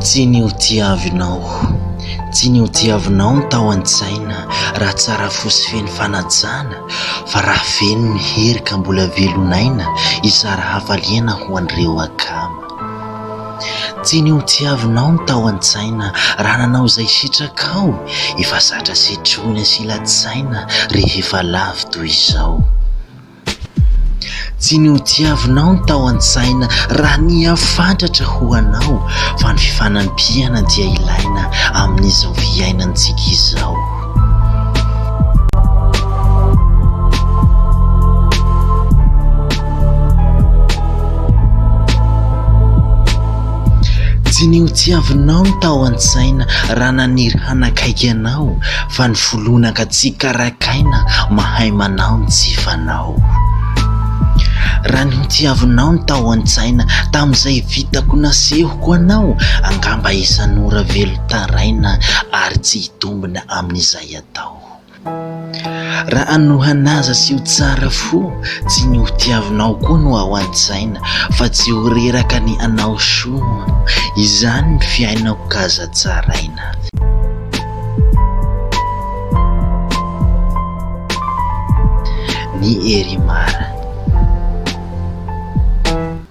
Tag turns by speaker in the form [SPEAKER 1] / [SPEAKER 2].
[SPEAKER 1] Tsy ny ho tiavinao, tsy ny ho tiavinao no tao an-tsaina raha tsara fo sy feno fanajana fa raha feno ny hery ka mbola velon'aina hizara hafaliana ho an'ireo akama. Tsy ny hotiavinao no tao an-tsaina raha nanao izay sitrakao, efa zatra setroina sy latsaina rehefa lavo toy izao. Tsy ny hotiavinao no tao an-tsaina raha nihafantratra ho anao fa ny fifanampiana dia ilaina amin'izao fiainantsika izao. Tsy ny ho tiavinao no tao an-tsaina raha naniry hanakaiky anao fa ny foloinaka tsy karakaina mahay manao ny tsy fanao. Raha ny ho tiavinao no tao an-tsaina tamin'izay vitako nasehoko anao angamba isan'ora velon-taraina ary tsy hitombo. mitombina amin'izay atao. Raha hanohanaza sy ho tsara fo, tsy ny ho tiavinao koa no ao an-tsaina, fa tsy ho reraka ny hanao soa. Izany ny fiainako ka aza tsaraina. Ny Herimar.